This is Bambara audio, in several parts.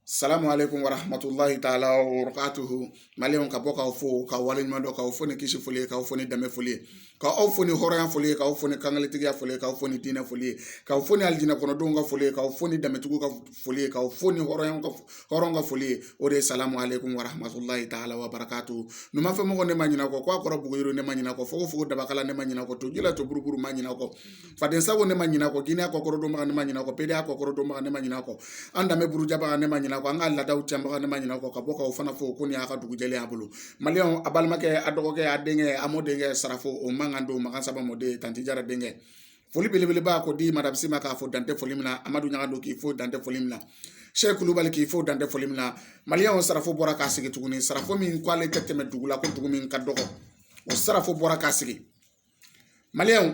Salamu aleykum warahmatulahi taala wabarakatuhu maliyɛnw ka bɔ k'aw fo ka waleɲuman dɔn k'aw fo ni kisi foli ye k'aw fo ni dɛmɛ foli ye k'aw fo ni hɔrɔnya foli ye k'aw fo ni kankelentigiya foli ye k'aw fo ni diinɛ foli ye k'aw fo ni alijinɛ kɔnɔdenw ka foli ye k'aw fo ni dɛmɛtigiw ka foli ye k'aw fo ni hɔrɔnyaw ka hɔrɔn ka foli ye o de ye salamu aleykum warahmatulahi taala wabarakatuhu numanfɛ mɔgɔ ne ma ɲinɛ o kɔ gwa kɔrɔ bugu yiriw ne ma ɲinɛ o kɔ fogofogo dabakala ne ma ɲinɛ o kɔ toji la to buruburu ma ɲinɛ o kɔ faden sago ne ma ɲinɛ kɔ gina kɔkɔrɔdonba ne ma ɲinɛ kɔ pedeya kɔkɔrɔdonba ne ma ɲinɛ kɔ an danbe burujabaga ne ma ɲinɛ kɔ an ka laadaw cɛnbaga ne ma ɲinɛ kɔ ka bɔ k'aw fana fo ko nin y'a ka dugu jɛlen y'a bolo maliyɛnw a balimakɛ a dɔgɔkɛ a denkɛ a mɔdenkɛ sarafo o man kan don makan saba mɔden tanti jara denkɛ foli belebeleba k'o di madamu si ma k'a fo dan tɛ foli min na amadu ɲagado k'i fo dan tɛ foli min na sɛki kulubali k'i fo dan tɛ foli min na maliyɛnw sarafo bɔra k'a sigi tuguni sarafo min ko ale tɛ tɛmɛ dugu la ko dugu min ka dɔgɔ o sarafo bɔra k'a sigi maliyɛnw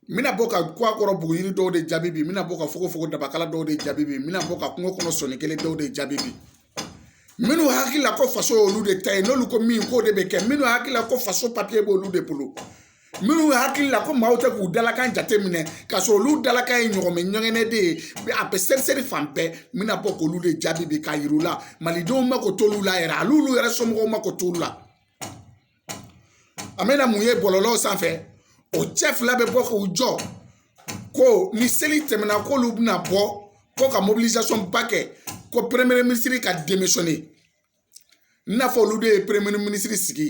n bɛna bɔ ka gwa kɔrɔ bugu yiri dɔw de jaabi bi n bɛna bɔ ka fogofogo dabakala dɔw de jaabi bi n bɛna bɔ ka kungo kɔnɔ sɔnni kelen dɔw de jaabi bi minnu hakili la ko faso y'olu de ta ye n'olu ko min k'o de bɛ kɛ minnu hakili la ko faso papiye b'olu de bolo minnu hakili la ko maaw tɛ k'u dalakan jate minɛ k'a sɔrɔ olu dalakan ye ɲɔgɔmɛ ɲɛgɛnɛ de ye a bɛ seriseri fan bɛɛ n bɛna bɔ k'olu de jaabi bi k'a yir'u la malidenw mako t'olu la yɛrɛ hali olu yɛrɛ somɔgɔw mako t'olu la an bɛna mun ye bɔlɔlɔw sanfɛ o cɛ fila bɛ bɔ k'u jɔ ko ni seli tɛmɛna k'olu bɛna bɔ ko ka mobilizasɔn ba kɛ ko peremiye minisiri ka demisɔne i n'a fɔ olu de ye peremiye minisiri sigi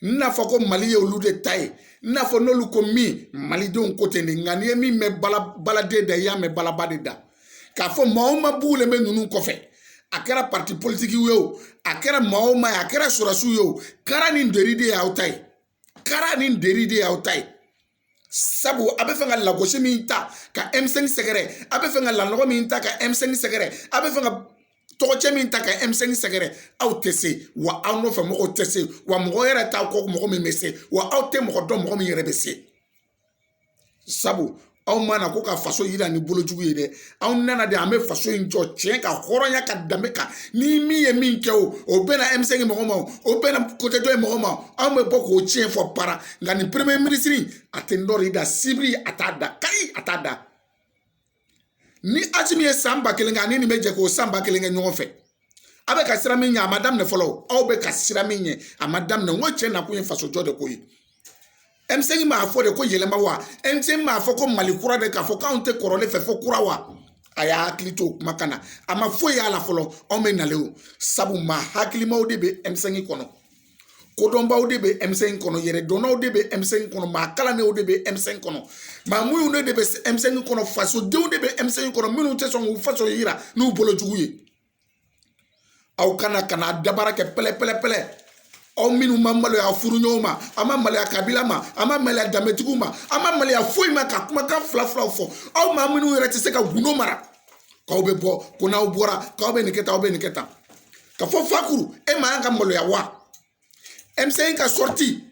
i n'a fɔ ko mali ye olu de ta ye i n'a fɔ n'olu ko min malidenw ko ten de nka n'i ye min mɛn baladen da i y'a mɛn balaba de da k'a fɔ maa o maa bugulen bɛ ninnu kɔfɛ a kɛra pati politiki ye o a kɛra maa o maa ye a kɛra sɔrɔdasiw ye o kara ni deri de y'aw ta ye kara ni deri de y'aw ta ye sabu a bɛ fɛ ka lagosi min ta ka ɛmisɛnki sɛgɛrɛ a bɛ fɛ ka lanɔgɔ min ta ka ɛmisɛnki sɛgɛrɛ a bɛ fɛ ka tɔgɔcɛn min ta ka ɛmisɛnki sɛgɛrɛ aw tɛ se wa aw nɔfɛ mɔgɔw tɛ se wa mɔgɔ yɛrɛ t'a kɔ mɔgɔ min bɛ se wa aw tɛ mɔgɔ dɔn mɔgɔ min yɛrɛ bɛ se sabu anw ma na ko ka faso yira ni bolojugu ye dɛ anw nana de an bɛ faso in jɔ tiɲɛ kan hɔrɔnya kan danbe kan ni min ye min kɛ o o bɛna ɛmisɛnki mɔgɔ ma o bɛna kote dɔ ye mɔgɔ ma anw bɛ bɔ k'o tiɲɛ fɔ para nka nin peremiye minisiri a tɛ ntori da sibiri a t'a da kari a t'a da ni aji min ye san ba kelen kɛ ani min bɛ jɛ k'o san ba kelen kɛ ɲɔgɔn fɛ a bɛ ka siran min ɲɛ a ma daminɛ fɔlɔ aw bɛ ka siran min ɲɛ a ma daminɛ n ko cɛ nakun ye faso jɔ de ko ye ɛmisɛnki m'a fɔ de ko yɛlɛma wa ɛmisɛnki m'a fɔ ko mali kura de k'a fɔ k'anw tɛ kɔrɔlen fɛ fo kura wa a y'a hakili to kumakan na a ma foyi y'a la fɔlɔ anw bɛ nalen o sabu maa hakilimaw de bɛ ɛmisɛnki kɔnɔ kodɔnbaw de bɛ M5 kɔnɔ yɛrɛdɔnnaw de bɛ M5 kɔnɔ maa kalannenw de bɛ M5 kɔnɔ maa muɲunenw de bɛ M5 kɔnɔ fasodenw de bɛ M5 kɔnɔ minnu tɛ sɔn k'u faso yira n'u bolo jugu ye aw kana ka na dabara kɛ pɛlɛpɛlɛpɛlɛ aw minnu ma maloya aw furuɲɔgɔnw ma a ma maloya kabila ma a ma maloya danbetigiw ma a ma maloya foyi ma ka kumakan fila filaw fɔ aw maa minnu yɛrɛ tɛ se ka gundo mara k'aw bɛ bɔ ko n'aw bɔra k'aw bɛ nin kɛ tan aw bɛ nin kɛ tan ka fɔ fakuru e man kan ka maloya wa M5 ka sɔriti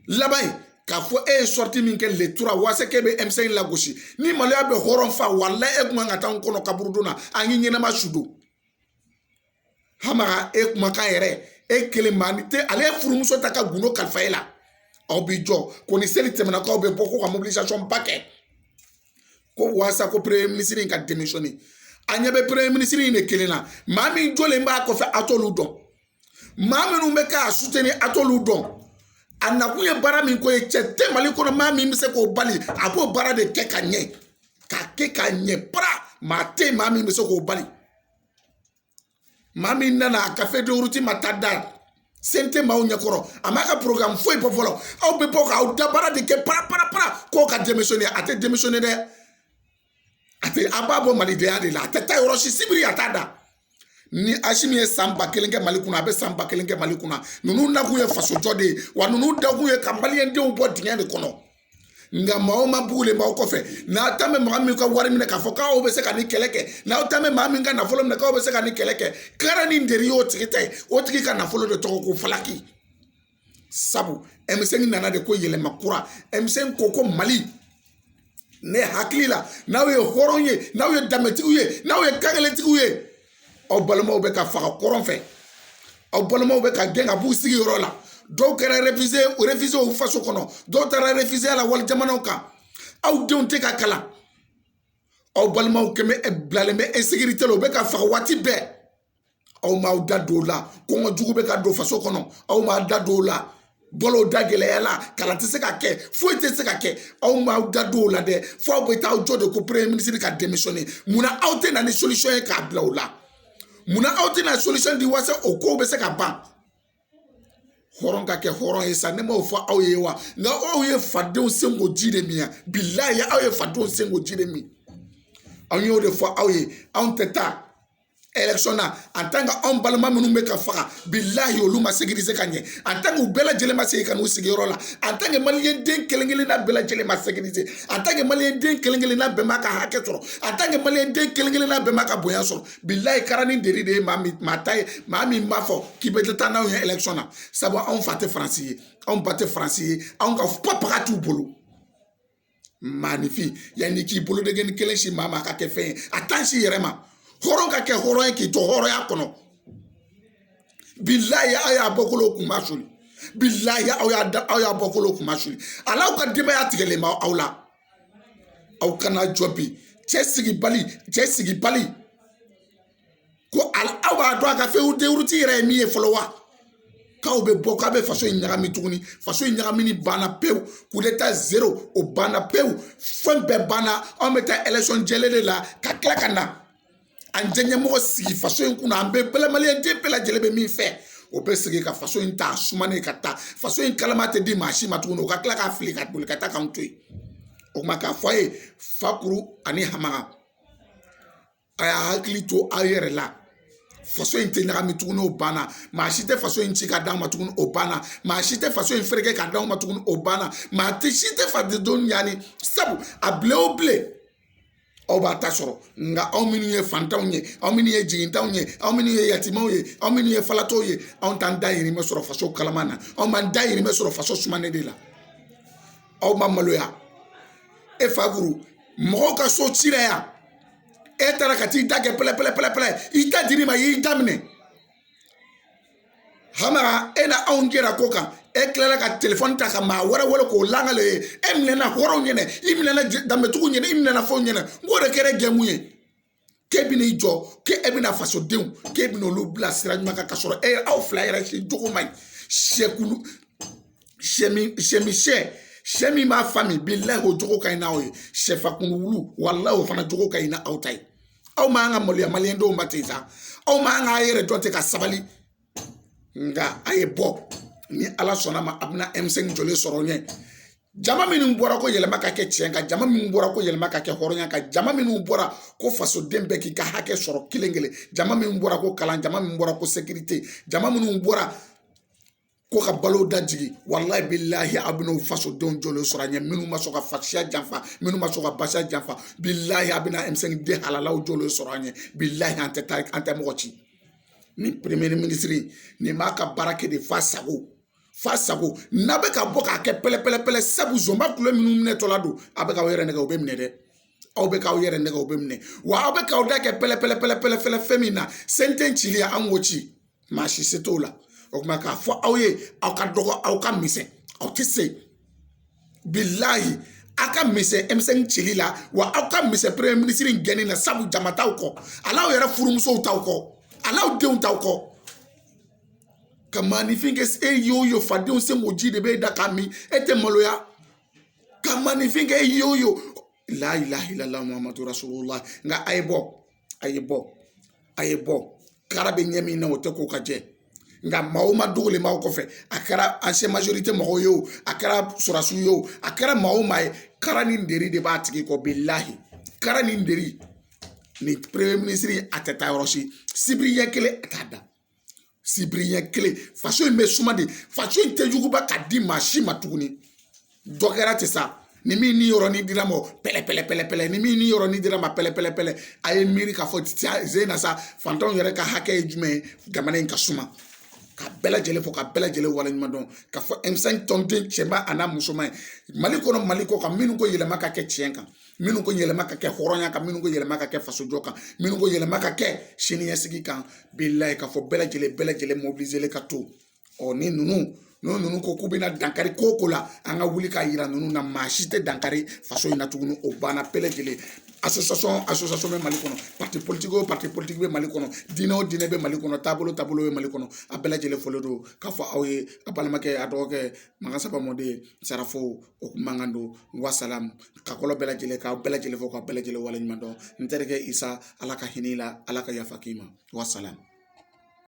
laban ye k'a fɔ e ye sɔriti min kɛ letura waasa k'e bɛ M5 lagosi ni maloya bɛ hɔrɔn fa walayi e kun kan ka taa an kɔnɔ kaburudon na an k'i ɲɛnama su don hamaga e kumakan yɛrɛ e kelen maa ni tɛ ale ye furumuso ta ka gundo kalifa e la aw b'i jɔ ko ni seli tɛmɛna k'aw bɛ bɔ ko ka mobilisation ba kɛ ko walasa ko premier ministre ka démissionner a ɲɛ bɛ premier ministre de kelen na maa min jɔlen b'a kɔfɛ a t'olu dɔn maa minnu bɛ k'a suteni a t'olu dɔn a nakun ye baara min ko ye cɛ tɛ mali kɔnɔ maa min bɛ se k'o bali a b'o baara de kɛ ka ɲɛ k'a kɛ ka ɲɛ para maa tɛ maa min bɛ se k'o bali maa min nana a ka feuille de route ma taa da CNT maaw ɲɛkɔrɔ a m'a ka programme foyi bɔ fɔlɔ aw bɛ bɔ k'aw dabara de kɛ paraparapara k'o ka démissionner a tɛ démissionner dɛ a tɛ a b'a bɔ malidenya de la a tɛ taa yɔrɔ si sibiri a t'a da ni asimi ye san ba kelen kɛ mali kunna a bɛ san ba kelen kɛ mali kunna ninnu nakun ye fasojɔ de ye wa ninnu dakun ye ka maliyɛndenw bɔ dingɛ de kɔnɔ nka maa o maa bugulen b'aw kɔfɛ n'aw ta mɛ maa min ka wari minɛ k'a fɔ k'aw bɛ se ka nin kɛlɛ kɛ n'aw ta mɛ maa min ka nafolo minɛ k'aw bɛ se ka nin kɛlɛ kɛ kara ni nɛri y'o tigi ta ye o tigi ka nafolo de tɔgɔ ko falaki sabu M5 nana de ko yɛlɛma kura M5 ko ko mali ne hakili la n'aw ye hɔrɔn ye n'aw ye danbetigiw ye n'aw ye kankelentigiw ye aw balimaw bɛ ka faga kɔrɔn fɛ aw balimaw bɛ ka gɛn ka b'u sigiyɔrɔ la dɔw kɛra réfugié u faso kɔnɔ dɔw taara réfugiéya la wali jamanaw kan aw denw tɛ ka kalan aw balimaw kɛmɛ eh, bilalen bɛ insécurité la u bɛ ka faga waati bɛɛ aw m'aw da don o la kɔngɔ jugu bɛ ka don faso kɔnɔ aw m'a da don o la balo da gɛlɛya la kalan tɛ se ka kɛ foyi tɛ se ka kɛ aw m'aw da don o la dɛ fo aw bɛ taa aw jɔ de ko premier ministre ka démissionner munna aw tɛ na ni solution ye k'a bila o la munna aw tɛ na solution di walasa o kow bɛ se ka ban hɔrɔn ka kɛ hɔrɔn ye sa ne m'o fɔ aw ye wa nka aw ye fadenw senko ji de min yan bilayi aw ye fadenw senko ji de min anw y'o de fɔ aw ye anw tɛ taa election na en tant que anw balima minnu bɛ ka faga bilahi olu ma sécuriser ka ɲɛ en tant que u bɛɛ lajɛlen ma segin ka n'u sigiyɔrɔ la en tant que maliyɛn den kelen kelen na bɛɛ lajɛlen ma sécuriser en tant que maliyɛn den kelen kelen na bɛɛ m'a ka hakɛ sɔrɔ en tant que maliyɛn den kelen kelen na bɛɛ m'a ka bonya sɔrɔ bilahi karani deri de ye maa min maa ta ye maa min b'a fɔ k'i bɛ taa n'anw ye election na sabu anw fa tɛ faransi ye anw ba tɛ faransi ye anw ka papaga t'u bolo. maanifin yanni k'i bolodengɛni kelen sin maa ma ka kɛ fɛn ye a tan sin i yɛrɛ ma hɔrɔn ka kɛ hɔrɔn ye k'i to hɔrɔnya kɔnɔ bilayi aw y'aw bɔkolo kunmasuli bilayi aw y'a da aw y'aw bɔkolo kunmasuli ali aw ka denbaya tigɛlen bɛ aw la aw kana jɔ bi cɛ sigibali cɛ sigibali ko ali aw b'a dɔn a ka fɛn denwuruti yɛrɛ ye min ye fɔlɔ wa k'aw bɛ bɔ k'aw bɛ faso in ɲagami tuguni faso in ɲagamini banna pewu kudeta zero o banna pewu fɛn bɛɛ banna anw bɛ taa election jɛlen de la ka tila ka na an jɛ ɲɛmɔgɔ sigi faso in kunna an bɛɛ bɛ maliyɛn den bɛɛ lajɛlen bɛ min fɛ o bɛ sigi ka faso in ta sumanen ka taa faso in kalama tɛ di maa si ma tuguni o ka tila k'a fili ka boli ka taa k'an to yen o tuma k'a fɔ a ye fakuru ani hamaga a y'a hakili to aw yɛrɛ la faso in tɛ ɲagami tuguni o banna maa si tɛ faso in ci ka d'an ma tuguni o banna maa si tɛ faso in fereke ka d'an ma tuguni o banna maa si tɛ fadenw ɲani sabu a bilen o bilen aw b'aw ta sɔrɔ nka anw minnu ye fantanw ye anw minnu ye jigintanw ye anw minnu ye yatimaw ye anw minnu ye falatɔw ye anw t'an dayirimɛ sɔrɔ faso kalama na anw b'an dayirimɛ sɔrɔ faso sumanen de la aw ma maloya e fakuru mɔgɔw ka so cila yan e taara ka t'i da kɛ pɛlɛpɛlɛpɛlɛ i da dir'i ma i y'i da minɛ hamaga e na anw jɛra ko kan e tilala ka telefɔni ta ka maa wɛrɛ wele k'o langale ye e minɛna hɔrɔnw ɲɛna i minɛna danbetigiw ɲɛna i minɛna fɛnw ɲɛna n k'o de kɛra jɛmu ye k'e bɛna i jɔ k'e e bɛna fasodenw k'e bɛna olu bila sira ɲuman kan ka sɔrɔ e aw fila yɛrɛ si jogo man ɲi sɛkulu sɛ min sɛ min sɛ sɛ min b'a fa min bilayi o jogo ka ɲi n'aw ye sɛfakun wulu walayi o fana jogo ka ɲi n'aw ta ye aw man ka maloya maliyɛn denw ma ten sa aw man ka yɛrɛ dɔn ten ka sabali nka a ye bɔ ni ala sɔnn'a ma a bɛna M5 jɔlen sɔrɔ ɲɛ jama minnu bɔra ko yɛlɛma ka kɛ tiɲɛ kan jama minnu bɔra ko yɛlɛma ka kɛ hɔrɔnya kan jama minnu bɔra ko fasoden bɛɛ k'i ka hakɛ sɔrɔ kelen kelen jama minnu bɔra ko kalan jama minnu bɔra ko sekirite jama minnu bɔra ko ka balo da jigin walayi bilahi a bɛna o fasodenw jɔlen sɔrɔ a ɲɛ minnu ma sɔn ka fasiya janfa minnu ma sɔn ka basiya janfa bilahi a bɛna M5 nin den halalaw jɔlen sɔrɔ a ɲɛ bilahi an tɛ taa an tɛ mɔgɔ ci ni premier ministre nin b'a ka baara kɛ de fa sago fa sago n'a bɛ ka bɔ k'a kɛ pɛlɛpɛlɛpɛlɛ sabu zonba kulu minnu minɛtɔla don a bɛ k'aw yɛrɛ nɛgɛ o bɛ minɛ dɛ aw bɛ k'aw yɛrɛ nɛgɛ o bɛ minɛ wa aw bɛ k'aw da kɛ pɛlɛpɛlɛpɛlɛpɛlɛ fɛn min na senten cili an k'o ci maa si se t'o la o tuma k'a fɔ aw ye aw ka dɔgɔ aw ka misɛn aw tɛ se bilayi aw ka misɛn M5 cili la wa aw ka misɛn premier minisiri in gɛnni na sabu jama t'aw kɔ hal'aw yɛrɛ furumusow t'aw kɔ hal'aw denw t'aw kɔ ka maanifin kɛ e ye o ye fadenw senkoji de bɛ e da k'a min e tɛ maloya ka maanifin kɛ e ye o ye la ilaha illallah muhammadu rasulullah nka a ye bɔ a ye bɔ a ye bɔ kara bɛ ɲɛ min na o tɛ ko ka jɛ nka maa o maa dogolen b'aw kɔfɛ a kɛra ancien majorité mɔgɔw ye o a kɛra sɔrɔdasiw ye o a kɛra maa o maa ye kara ni deri de b'a tigi kɔ bilahi kara ni deri nin premier minisiri a tɛ taa yɔrɔ si sibiri ɲɛ kelen a t'a da sibiri ɲɛ kelen faso in bɛ suma de faso in tɛ juguba ka di maa si ma tuguni dɔ kɛra ten sa ni min niyɔrɔnin dira ma pɛlɛpɛlɛpɛlɛ ni min niyɔrɔnin dira ma pɛlɛpɛlɛpɛlɛ a ye miiri k'a fɔ ze na sa fantanw yɛrɛ ka hakɛ ye jumɛn ye jamana in ka suma ka bɛɛ lajɛlen fo ka bɛɛ lajɛlen waleɲuman dɔn ka fɔ M5 tɔnden cɛman a n'a musoman ye mali kɔnɔ mali kɔkan minnu ko yɛlɛma ka kɛ tiɲɛ kan minnu ko yɛlɛma ka kɛ hɔrɔnya kan minnu ko yɛlɛma ka kɛ fasojɔ kan minnu ko yɛlɛma ka kɛ siniɲɛsigi kan bilayi k'a fɔ bɛɛ lajɛlen bɛɛ lajɛlen mobiliselen ka to ɔ ni ninnu n'o ninnu ko k'u bɛna dankari ko ko la an ka wuli k'a yira ninnu na maa si tɛ dankari faso in na tuguni o banna bɛɛ lajɛlen association association bɛ mali kɔnɔ parti politique o parti politique bɛ mali kɔnɔ diinɛ o diinɛ bɛ mali kɔnɔ taabolo o taabolo bɛ mali kɔnɔ a bɛɛ lajɛlen folen don k'a fɔ aw ye a balimakɛ a dɔgɔkɛ makan saba mɔden sarafo o kumakan don wasalamu ka kɔlɔ bɛɛ lajɛlen k'aw bɛɛ lajɛlen fo ka bɛɛ lajɛlen waleɲuman dɔn n terikɛ isa ala ka hinɛ i la ala ka yafa k'i ma wasalamu